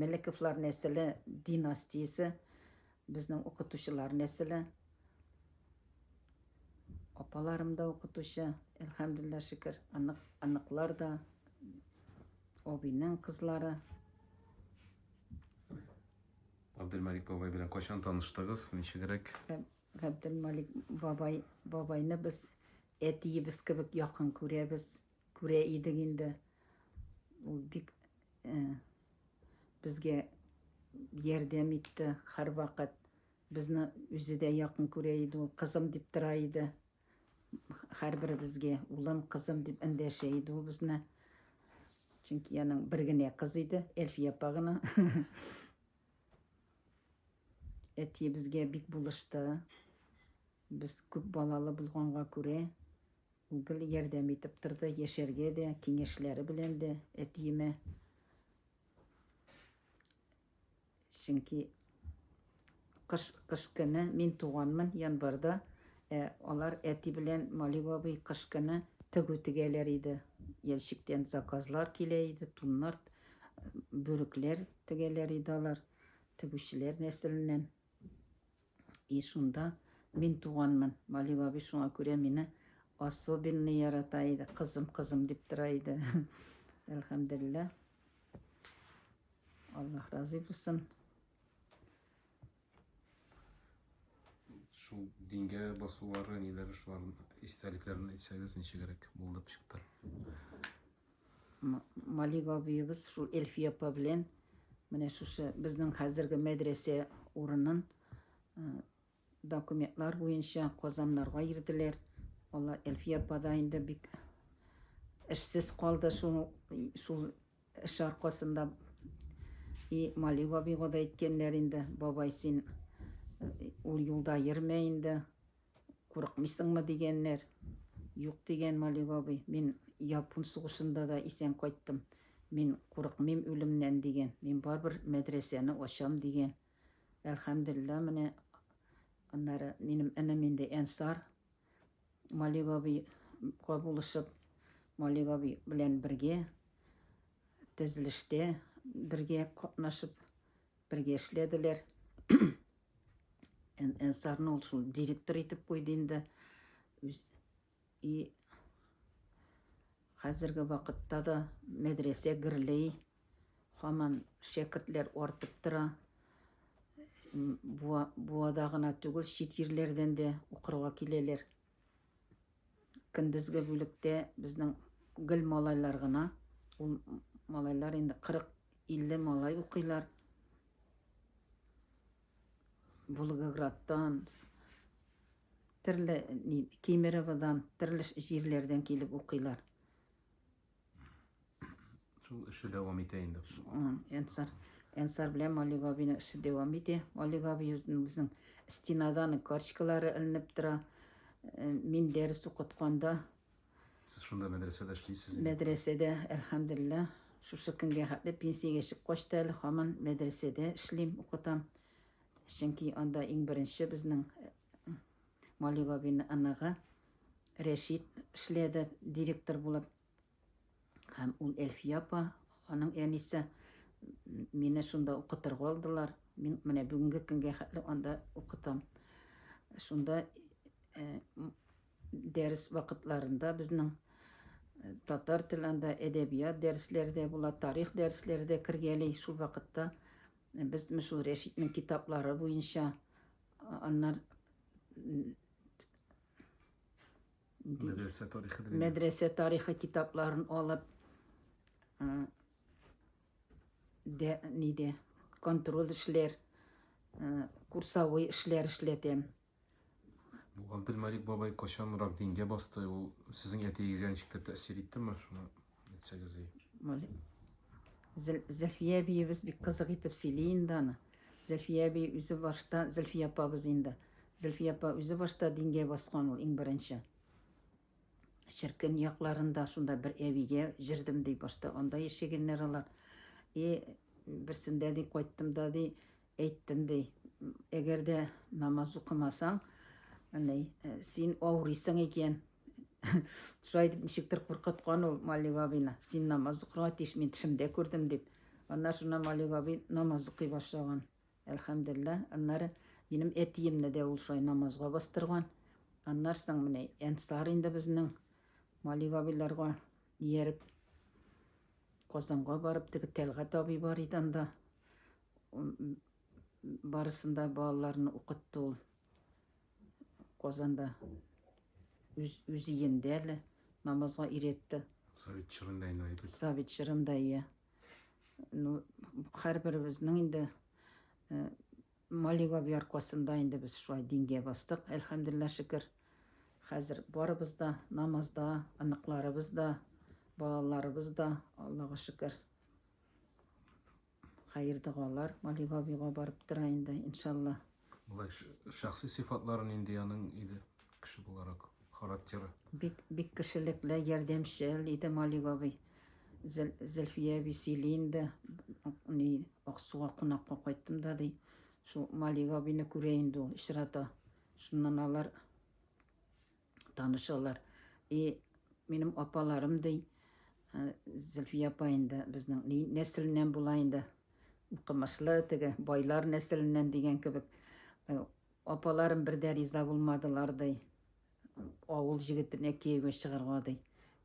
Мөлековлар нәселе династиясе, безнең укытучылар нәселе. Апаларым да укытучы, әлхәмдүлилләһ шөкер. Анык, аныклар да, абыйның кызлары. Габделмәлик бабай белән кайчан таныштыгыз, ничегрәк? Габделмәлик бабай, бабайны без әтиебез кебек якын күрәбез. Күрә идек инде. Ул бик э, безгә ярдәм итте һәрвакыт. Безне үзе дә якын күрә иде ул, кызым дип тора иде. Һәрберебезгә улым, кызым дип эндәшә иде ул безне. Чөнки аның бер генә кыз иде, Эльфия апа гына. Әти безгә бик булышты. Без күп балалы булганга күрә, Гел ярдәм итеп торды, яшәргә дә, киңәшләре белән дә әтиемә. Чөнки кыш, кыш көне мин туганмын январьда, ә алар әти белән Малик абый кыш көне тегү тегәләр иде. Ящиктән заказлар килә иде, туннар, бүрекләр тегәләр иде алар, тегүчеләр нәселеннән. И шунда мин туганмын. Вали бабай шуңа күрә мине особенный ярата иде. Кызым, кызым дип тора иде. Әлхәмдулилла. Аллаһ разый булсын. Шул дингә басулары, ниләр шуларның истәлекләрен әйтсәгез, ничегрәк булып чыкты. Малик абыебыз шул Эльфия апа белән менә шушы безнең хәзерге мәдрәсә урынын документлар буенча Казаннарга ирделәр. Алла Эльфия апа да инде бик эшсез калды шул шул эш аркасында. И Малик абыйга да әйткәннәр инде, бабай син ул юлда йөрмә инде. Курыкмыйсыңмы дигәннәр. Юк, дигән Малик абый, мин япун сугышында да исән кайттым. Мин курыкмыйм үлемнән, дигән. Мин барыбер мәдрәсәне ачам, дигән. Әлхәмделилла, менә аннары минем энем инде Әнсар Малик абыйга булышып, Малик абый белән бергә тезелештә бергә катнашып Бергә эшләделәр. Әнсарны ул шул директор итеп куйды инде. И хәзерге вакытта да мәдрәсә гөрләй. Хаман шәкертләр артып тора. Буада гына түгел, чит җирләрдән дә укырга киләләр. Көндезге бүлектә безнең гел малайлар гына. Ул малайлар инде 40-50 малай укыйлар. Волгоградтан, төрле Кемероводан, төрле җирләрдән килеп укыйлар. Шул эше дәвам итә инде. Энсар, Энсар белән Малик абины эше дәвам итә. Малик абы үзенең стенадан карточкалары эленеп тора. Э, мин дәрес укытканда Сез шунда мәдрәсәдә эшлисез? Мәдрәсәдә, әлхәмдулилла, шушы көнгә хәтле пенсиягә чыгып качты әле, һаман мәдрәсәдә эшлим, укытам. Чөнки анда иң беренче безнең э, Мали бабины оныгы Рәшит эшләде директор булып. Һәм ул Әлфия апа, аның әнисе, мине шунда укытырга алдылар. Мин менә бүгенге көнгә хәтле анда укытам. Шунда э, дәрес вакытларында безнең э, татар телендә әдәбият дәресләре дә була, тарих дәресләре дә кергәли. Шул вакытта э, без шул Рәшитнең китаплары буенча Аннар Мәдрәсә тарихы дигән. Мәдрәсә тарихы китапларын алып дә ниде контроль эшләр, курсовой эшләр эшләтәм. Бу Габделмалик бабай качанрак дингә басты? Ул сезнең әтиегезгә ничектер тәэсир иттеме? Шуны Әйтсәгез и. Вали. Зәл, Зәлфия әбиебез бик кызык итеп сөйли инде аны. Зәлфия әби үзе башта, Зәлфия апабыз инде. Зәлфия апа үзе башта дингә баскан ул иң беренче. Черкен якларында шунда бер әбигә җырдым ди башта. Анда яшәгәннәр алар. И берсендә ди кайттым да ди, Әйттем, ди, әгәр дә намаз укымасаң, әни, син авырыйсың икән. Шулай дип ничектер куркыткан ул Малик абыйны. Син намаз укырга тиеш, мин төшемдә күрдем дип. Аннан шуннан Малик абый намаз укый башлаган. Әлхәмдулилла, аннары минем әтиемне дә ул шулай намазга бастырган. Аннан соң менә Әнсар инде безнең Малик абыйларга ияреп Казанга барып, теге Тәлгат абый бар иде анда. Барысында балаларны укытты ул Казанда. Үз, үз иендә әле намазга иретте. Совет чорында инде әйбәт. Совет чорында, иә. Ну, һәрберебезнең инде э, Малива яркасында инде без шулай дингә бастык, әлхәмдулилла шөкер. Хәзер барыбыз да намазда, аныкларыбыз да, балаларыбыз да, Аллага шөкер. Хәер-догалар Гали бабига барып тора инде, иншалла. Болай шәхси сыйфатлары нинди аның иде, кеше буларак, характеры? Бик, бик кешелекле, ярдәмчел иде Мали бабый. Зел, Зөлфия әби сөйли инде, ни, Аксуга кунакка кайттым да, ди. Шул Мали бабыйны күрә инде ул, очрата. Шуннан алар танышалар. И минем апаларым ди, э, Зөлфия апа инде безнең ни нәселеннән була инде. Укымышлы теге байлар нәселеннән дигән кебек. Э, апаларым бер дә риза булмадылар ди. Авыл җегетенә кияүгә чыгарга ди.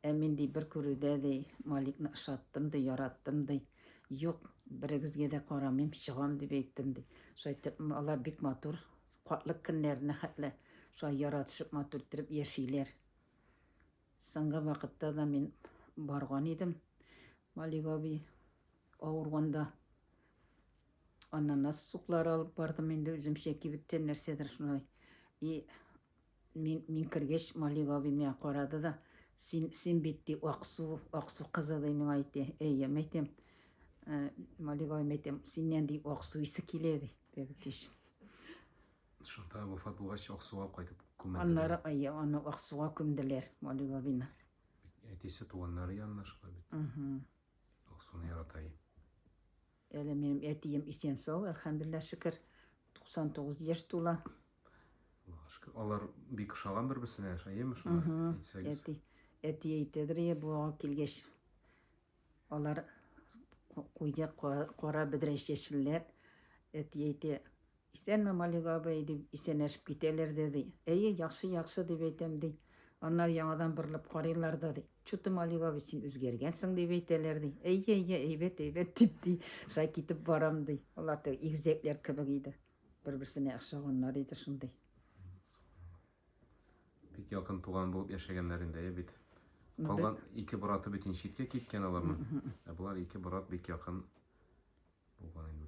Ә мин ди бер күрүдә ди, Маликны ошаттым ди, яраттым ди. Юк, берегезгә дә карамыйм, чыгам дип әйттем ди. Шайтып, алар бик матур Картлык көннәренә хәтле шулай яратышып, матур иттереп яшиләр. Соңгы вакытта да мин барган идем. Малик абый авырганда ананас суклары алып бардым инде үземчә кибеттән нәрсәдер шулай. И Мин, мин кергәч, Малик абый миңа карады да, син, син бит, ди, Аксу, Аксу кызы, ди, миңа әйтте. Әйе, мәйтем, ә, Малик абый, мәйтем, синнән, ди, Аксу исе килә, ди, теге кеш. Шунда вафат булгач, Аксуга кайтып күмелделәр. Аннары, әйе, аны Аксуга күмделәр, Малик абыйны. Әтисе туганнары янына шулай бит. Аксуны ярата иде. Әле минем әтием исән сау, әлхәмдуллаһ шөкер, 99 яшь тула. Аллага шөкер. Алар бик ошаган бер-берсенә, әйеме шуны әйтсәгез? Әти, әти әйтәдер, е, бу килгәч алар куйды кара бедрәч яшелләр. Әти әйтә, Исәнме, Малик абый, дип исәнләшеп китәләр дә, ди. Әйе, яхшы, яхшы, дип әйтәм, ди. Аннары яңадан борылып карыйлар да, ди. Чуты, Малик абый, син үзгәргәнсең, дип әйтәләр, ди. Әйе, әйе, әйбәт, әйбәт, дип, ди. Шулай китеп барам, ди. Алар теге игезәкләр кебек иде. Бер-берсенә охшаганнар иде шундый. Бик якын туган булып яшәгәннәр инде, әйе бит. Калган ике браты бит инде читкә киткән аларның. Ә болар ике брат бик якын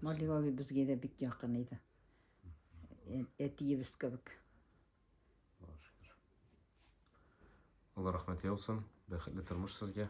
Малик абый безгә дә бик якын иде. Әтиебез кебек. Алла рәхмәт яусын. Бәхетле тормыш сезгә.